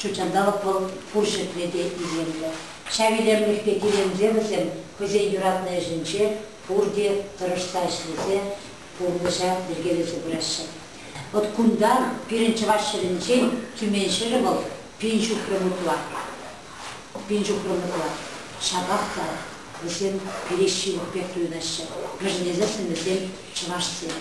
Ҫутҫанталӑк вӑл пур ҫӗртре те илемлӗ. Ҫав илемлӗхпе киленсе вӗсем хӑйсен юратнӑ ӗҫӗнче пурте тӑрӑшса ӗҫлесе пурнӑҫа йӗркелесе пыраҫҫӗ. Вӑт кунта пирӗн чӑваш ҫӗрӗнчен Тюмень ҫӗрӗ вӑл пин ҫухрӑм ытла. Пин ҫухрӑм ытла. Ҫапах та вӗсем пире ҫывӑх пек туйӑнаҫҫӗ, вӗшӗнесессӗн вӗсем Чӑвашсем,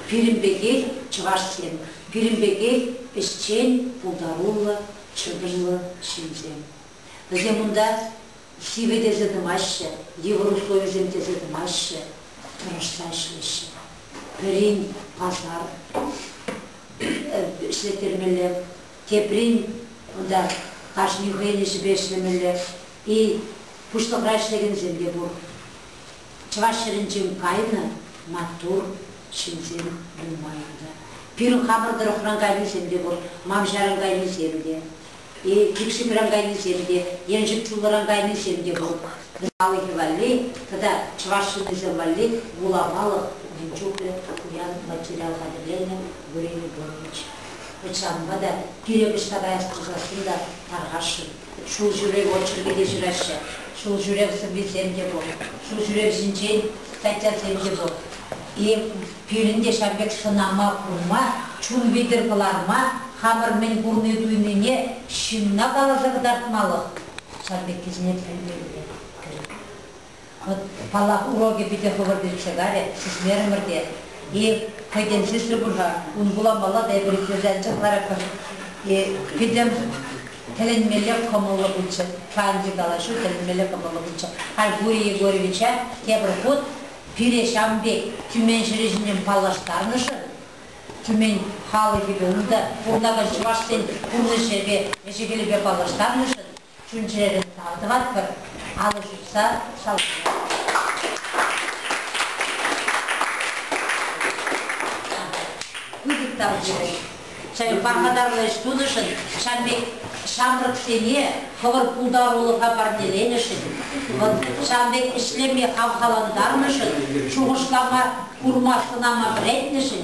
пирӗн пекех чӑвашсем, пирӗн пекех ӗҫчен, пултаруллӑ, чӑтӑмлӑ ҫынсем. Вӗсем унта сивӗ тесе тӑмаҫҫӗ, йывӑр условисем тесе тӑмаҫҫӗ, тӑрӑшса ӗҫлеҫҫӗ. Пӗрин пасар ӗҫлеттермелле, теприн унта кашни хӑйӗн ӗҫӗпе ӗҫлемелле. И пуҫлӑхра ӗҫлекенсем те пур. Чӑваш ҫӗрӗнчен кайнӑ маттур ҫынсем нумай ӗнтӗ. Пирӗн хамӑр тӑрӑхран кайнисем те пур, Мамҫаран кайнисем те, Кикшӳмран кайнисем те, Еншик Чуллӑран кайнисем те пур. Халӑхӗ валли тата чӑваш ҫыннисем валли вуламалӑх мӗн чухлӗ пуян материал хатӗрленӗ Гурий Григорьевич. Вӑт ҫавӑнпа та пирек ӑҫта каяс пулсассӑн та тархасшӑн. Ҫулҫӳрев очеркӗ те ҫыраҫҫӗ, ҫулҫӳрев сӑввисем те пур, ҫулҫӳрев ҫинчен статьясем те пур. И пирӗн те ҫав пек сӑнама курма, чун витӗр кӑларма хамӑр мӗн курни-туйнине ҫынна каласа кӑтартмалӑх ҫав пеккисене пӗлмелле кирек. Калав урокӗ питӗ хӑвӑр пекше кайрӗ, сисмерӗмӗр те. И, хӑйсем сисрӗ пуль-ха, ун вуламаллах эпир итлесе анчӑхларӑпӑр. И, пӗтӗм тӗлӗнмелле кӑмӑллӑ пулчӗ. Канчӗ калаҫу, тӗлӗнмелле кӑмӑллӑ пулчӗ. Альгурий Егоровича тепӗр хут пире ҫавӑн пек Тюмень ҫӗрӗ ҫинчен паллаштарнӑшӑн, Тюмень халӑхӗпе, унта пурӑнакан чӑвашсен пурнӑҫӗпе, ӗҫӗ-хӗлӗпе паллаштарнӑшӑн чун-чӗрӗ тав тӑватпӑр, алӑ ҫупса шалкура. Пысӑк тав сирӗн. Сирӗн пархатарлӑ ӗҫ тунӑшӑн, ҫавӑн пек ҫамрӑксене хӑвӑр пултарулӑха парнеленӗшӗн, вӑл ҫавӑн пек ӗҫлеме хавхалантарнӑшӑн, шухӑшлама, курма-сӑнама вӗрентнӗшӗн